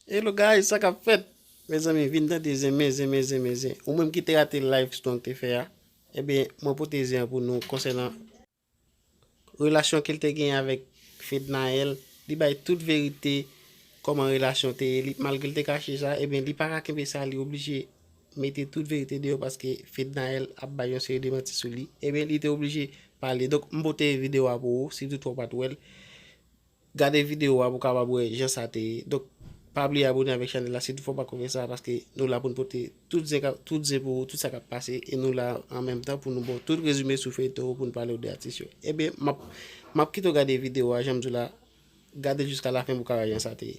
Hello guys sa kap fèt mezanmi vin tande zen men zen men zen men zen ou menm ki te rate live strong te fè a ebyen mwen pote zen an pou nou konsènan relasyon ke l te gen avèk Fednaelle li bay tout verite kòman relasyon te ye li malgre l te kache sa ebyen li pa ka kenbe sa li oblije mete tout verite deyò paske Fednaelle ap bay yon seri de manti sou li ebyen li te oblije pale donk m pote video a pou ou si toutfwa w pat wè l Gade video a pou w kapab wè jan sa te ye. Donk pa bliye abone avèk chanèl la sitou fè w pa ko fè sa paske nou la pou n pote tout zen kap tout zen pou ou tout sa kap pase e nou la an menm tan pou nou ba w tout rezime sou feyton yo pou n pale w de atis yo. Ebyen map map kite w gade video a jan m di w la gade l jiska lafen pou w ka wè jan sa te ye.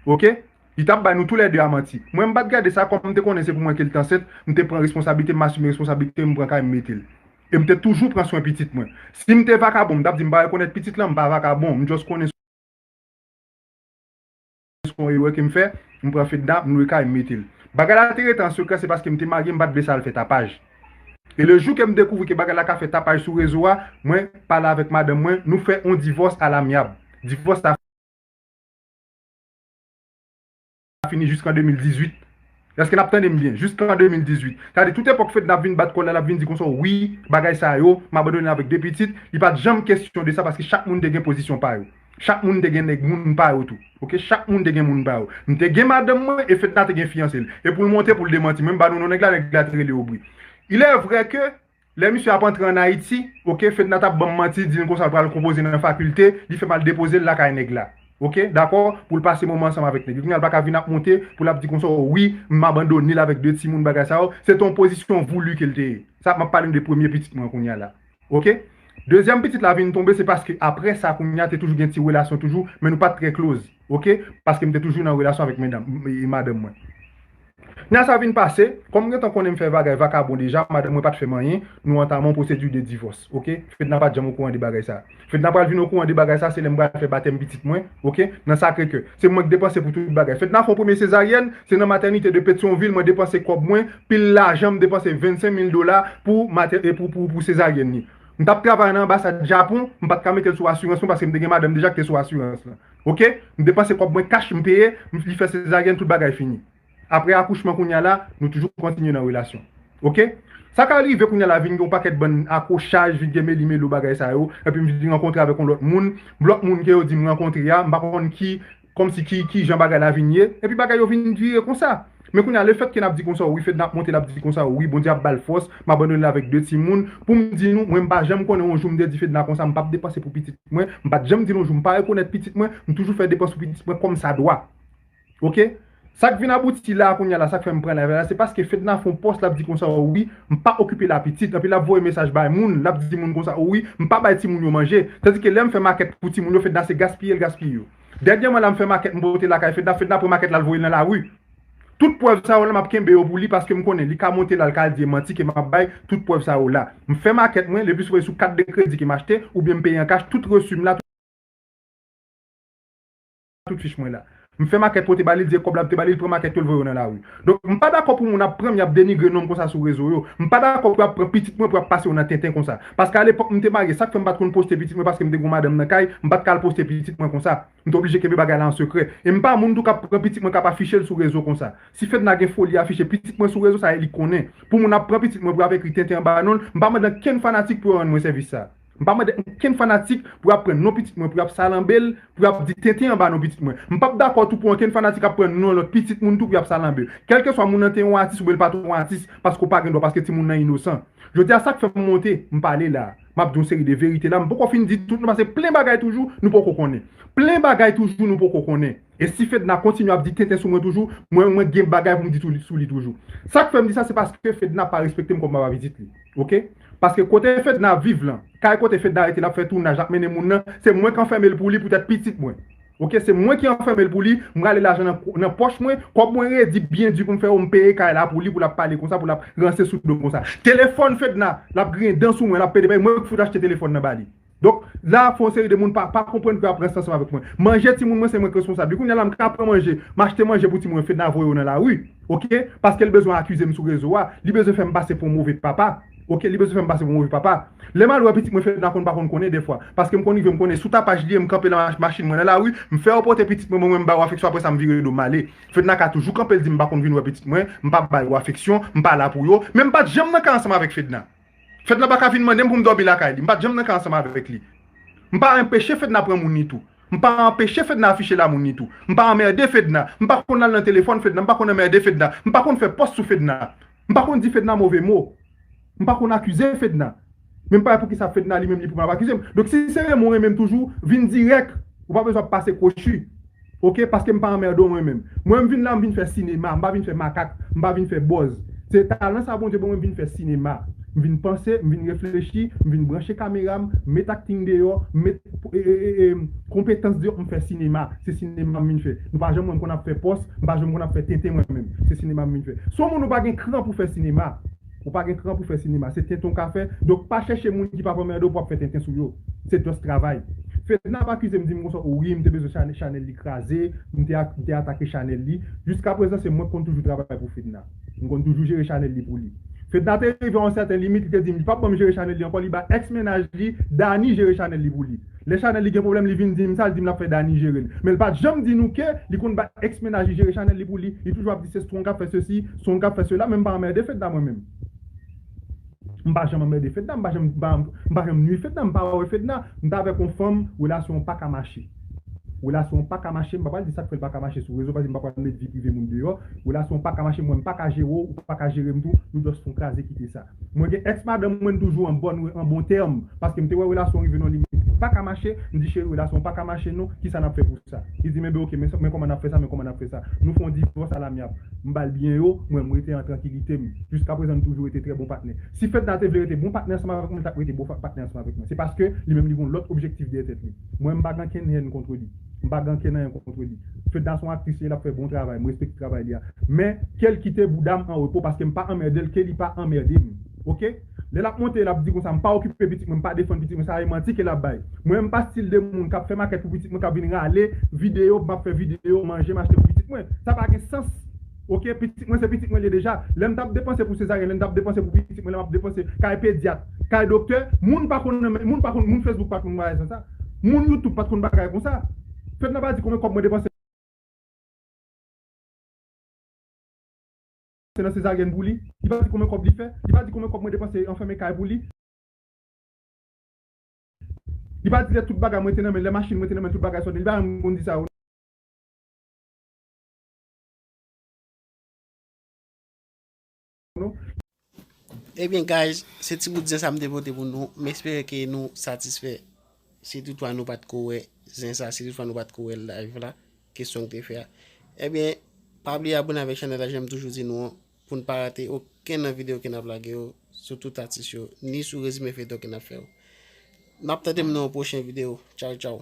Ok Li tap bay nou tou lè 2 a manti Mwen mpat gade sa kòm mte konnen se pou mwen kel t ansent mte pran responsablite masume responsablite mpran kay mmetel e mte toujou pran swen pitit mwen sim te vakabon mtap di mpa rekonèt pitit lan mpa vakabon mjust konnen jis kon erè kem fè, m pran fedna, m lwe kay, m mete l. Bagay la te rete an sekrè se paske m te marye m pat vle sa al fè tapaj. E le jou kem dekouvri ke bagay la ka fè tapaj sou rezo a, mwen pale avèk madanm mwen, nou fè on divòs alamyab. Divòs sa fini jis kan 2018. Eske nap tande m byen? Juskan 2018. Sa vle di tout epòk Fedna ap vin bat kòl la, lap vin di konsa wi, bagay sa yo, m abandone l avèk 2 pitit, li pat janm kesyon de sa paske chak moun te gen pozisyon pa yo. Chak moun te gen nèg moun pa yo tou. Ok, chak moun te gen moun pa yo. M te gen madanm mwen e Fedna te gen fiyanse l. E pou l monte pou l demanti mwen, m ba nou non nèg la, nèg la te rele Aubry. Ilèvrè ke. Lè misye ap antre an Ayiti, ok, Fedna t ap ban m manti, di m konsa l pral konpoze nan fakilte, li fè m al depoze l lakay nèg la, ok, dakò, pou l pase moman ansanm avèk nèg li. Kounye a l pa ka vin ap monte pou l ap di konsa, o wi, m abandone l avèk de timoun, bagay sa yo. Se te yon pozisyon voulu ke l te ye. Sa, m ap pale nou de premye pitit mwen kounye a la, ok. Dezyèm pitit la vin tonbe, se paske apre sa kounye a te toujou gen ti relasyon toujou, men nou pa t trè close, ok, paske m te toujou nan relasyon avèk mendanm, madanm mwen. Nan sa vin pase, kòm m gentan konnen m fè vagay vakabon deja, madanm mwen pa t fè m anyen, nou antame yon pwosedi de divòs, ok. Fedna pa t janm okouran de bagay sa. Fedna pral vin okouran de bagay sa se lè m pral fè batèm pitit mwen, ok, nan Sakre Kè. Se mwen k depanse pou tout bagay. Fedna fè yon premye sezaryèn, se nan matènite de Petyonvil mwen depanse kòb mwen, pil lajan m depanse 25 mil dola pou pou sezaryèn li. M t ap travay nan anbasad Japon, m pa t ka mete l sou asirans mwen paske m te gen madanm deja ki te sou asirans lan. ok m depanse kòb mwen kach m peye li fè sezaryèn tout bagay fini aprè akouchman kounya la nou toujou kontinye nan relasyon ok sa ka rive kounya la vin gen yon pakèt bann akwochaj vin gen meli melo bagay sa yo epi m vin rankontre avèk yon lòt moun lòt moun ke yo di m rankontre a m pa konn ki kòmsi ki kijan bagay la vin ye epi bagay yo vin vire konsa. Men kounya lefètke nap di konsa wi Fedna ap monte lap di konsa wi Bondye ap bal fòs m abandone l avèk 2 timoun poum di nou mwen m pa janm konnen yon jou m te di Fedna konsa m pap depanse pou pitit mwen m pat janm di l yon jou m pa rekonèt pitit mwen m toujou fè depans pou pitit mwen kòm sa dwa ok sak vin abouti la kounya la sak fè m pran live la se paske Fedna fon pòs lap di konsa wi m pa okipe la pitit anpi lap voye mesaj bay moun lap di moun konsa wi m pa bay timoun yo manje tandike lèm fè makèt pou timoun yo Fedna se gaspiye l gaspiye yo. Dènyèman la m fè makèt m pote lakay Fedna, Fedna pran makèt la l voye nan lari. Tout prèv sa yo la m ap kenbe yo pou li paske m konnen li ka monte la l ka di e manti ke m ap bay tout prèv sa yo la. M fè makèt mwen, leplis mwen sou kat de kredi ke m achte oubyen m peye an kach tout resu m la, tout fich mwen la. M fè makèt pote ba li, l di e kòb la m te ba li, l pran makèt yo l voye yo nan lari. Donk m pa dakò pou moun ap pran m y ap denigre non m konsa sou rezo yo. M pa dakò pou y ap pran pitit mwen pou y ap pase yo nan tenten konsa. Paske a lepòk m te marye sak fè m pat konn poste pitit mwen paske m te gon madanm nan kay m pat ka al poste pitit mwen konsa m te oblije kenbe bagay la an sekrè e m pa moun tou kap pran pitit mwen kap afichel sou rezo konsa si Fedna gen foli afiche pitit mwen sou rezo sa e li konnen pou moun ap pran pitit mwen pou yap ekri tenten anba nonl m pa mande ankenn fanatik pou yo rann mwen sèvis sa m pa mande ankenn fanatik pou yap pran non pitit mwen pou yap salanbel pou yap di tenten anba non pitit mwen m pap dakò tou pou ankenn fanatik ap pran non lòt pitit moun tou pou yap salanbe kelkeswa moun nan te yon atis oubyen l pat yon atis paske w pa gen dwa paske timoun nan inosan. Jodi a sak fèm monte m pale la a map di yon seri de verite la m poko fin di tout nan pase plen bagay toujou nou poko konnen plen bagay toujou nou poko konnen e si Fedna kontinye ap di tenten sou mwen toujou mwen mwen gen bagay poum di sou li toujou sak fèm di sa se paske Fedna pa respektem kòm papa pitit li ok paske kote Fedna ap viv lan kay kote Fedna rete lap fè tounaj lap mennen moun nan se mwen k anfèmel pou li poutèt pitit mwen. Ok se mwen ki anfèmel pou li, m rale lajan nan pòch mwen, kòb mwen redi byen di pou m fè yo m peye kay la pou li pou lap pale konsa pou lap ranse sou dom konsa. Telefòn Fedna lap griyen dan sou mwen lap pede bay mwen ki fout achte telefòn nan ba li. Donk la ap fè yon seri de moun pa konprann pou yo ap ranse ansanm avèk mwen. Manje timoun mwen se mwen ki responsab li kounya la m ka pran manje m achte manje pou timoun yo Fedna voye yo nan lari ok paskel bezwen akize m sou rezo a li bezwen fè m pase pou yon move papa. Ok li bezwen fèm pase pou move papa lèm al wè pitit mwen fedna konn pa konn konnen dèfwa paskem konn rive mkonnen sou tapaj liye mkanpe nan machin mwen nan lari mfèw pote pitit mwen mwen wè mbaw afeksyon apresa mvire dom male fedna ka toujou kanpel dim mpa konn vin wè pitit mwen mpa bay yo afeksyon mpa la pou yo men mpat janm nan ka ansanm avèk fedna fedna paka vin mandem poum domi lakay li mpat janm nan ka ansanm avèk li mpa enpeche fedna pran moun ni tou mpa anpeche fedna afiche lamoul ni tou mpa anmerde fedna mpa konn al nan telefòn fedna mpa konn anmerde fedna mpa konn fè pòs sou fedna M pa konn di Fedna move mo. M pa konn akize Fedna. Men m pa wè poukisa Fedna li menm li pou vin ap akize m. Donk si se renmen w renmen m toujou, vin dirèk. Ou pa bezwen ap pase kwochi. Oke, paske m pa anmède w mwen menm. Mwen m vin la m vin fè sinema. M pa vin fè makak. M pa vin fè bòz. Se talan sa Bondye ban mwen m vin fè sinema. M vin panse, m vin reflechi, m vin branche kamera m, m met akting deyò, m met. Konpetans di m fè sinema, se sinema m vin fè. Nou pa janm wè m konn ap fè pòs, m pa janm konn ap fè tenten mwen menm. Se sinema m vin fè. Si w moun ou pa gen kran pou fè sinema, ou pa gen kran pou fè sinema, se tenten w ka fè, donk pa chèche moun ki p ap anmède w pou ap fè tenten sou yo. Se just travay. Fedna ap akize m di m konsa o wi m te bezwen chanèl li kraze, m te atake chanèl li. Jiskaprezan se mwen k konn toujou travay pou Fedna. M konn toujou jere chanèl li pou li. Fedna te rive yon sèten limit li te di m li pap ban m jere chanèl li ankò li bay ex mennaj li Dany jere chanèl li pou li. Lè chanèl li gen pwoblèm li vin di m sa li di m lap fè Dany jere l men li pat janm di nou ke li konn bay ex mennaj li jere chanèl li pou li li toujou ap di se strong kap fè sesi strong kap fè sela men m pa anmède Fedna mwen menm. M pa janm anmède Fedna, m pa janm m pa janm nwi Fedna, m pa wè Fedna, m ta avèk yon fanm relasyon an paka mache. Relasyon an paka mache, m pa pral di sak fè l paka mache sou rezo paske m pa pral met vi prive moun deyò, relasyon an paka mache m wè m paka jere w, ou paka jere m tou, nou just fon kraze kite sa. Mwen gen ex madanm mwen n toujou an bòn an bon tèm paske m te wè relasyon an rive nan yon limit li paka mache, m di cheri relasyon an paka mache non, kisa n ap fè pou sa? Li di m enben ok men kòman n ap fè sa men kòman n ap fè sa, nou fè yon divòs alamyab. M ba l biyè yo mwen, m rete an trankilite m. Jiskaprezan n toujou rete trè bon patnè. Si Fedna te vle rete bon patnè ansanm avèk mwen, l t ap rete bon patnè ansanm avèk mwen. Se paske li menm li gen yon lòt objektif dèyè tèt li. Mwen m pa gen ankenn hèn kontre li. M pa gen ankenn anyen kontre li. Fedna se yon aktris li, l ap fè bon travay, m respekte travay li a. Men, ke l kite bouda m anrepo paske m pa anmède l, ke li pa anmède m. Ok? Lè lap monte lap di konsa mpa okipe pitit mwen mpa defann pitit mwen sa e manti ke lap bay. Mwen menm mpa stil de moun kap fè makèt pou pitit mwen kap vin rale video map fè video manje m achte pou pitit mwen sa pa gen sans ok pitit mwen se pitit mwen liye deja lèm tap depanse pou sezaryen lèm tap depanse pou pitit mwen lèm ap depanse kay pedyat kay doktè moun pa konn nan moun pa konn moun fesbouk pa konn bagay konsa moun youtube pat konn bagay konsa fedna pa di konbyen kòb mwen depanse Se nan sezaryen pou li. Li pa di konbyen kob li fè. Li pa di konbyen kob mwen depanse anfème kay pou li. Li pa di lè tout bagay mwen te nan men, lè machine mwen te nan men tout bagay sot. Li pa janm konn di sa yo. Non. Ebyen guys, se ti bout zen sa m te pote pou nou. M espere ke nou satisfè. Si tout fwa nou pat ko wè zen sa si tout fwa nou pat ko wè live la kesyon ou te fè a ebyen pa bliye abone avèk chanèl la janm toujou di nou an poun pa rate okenn nan video ke nap lage yo sou tout atis yo ni sou rezime feyton ke nap fè yo map tandem nan yon pwochen video tchaw tchaw.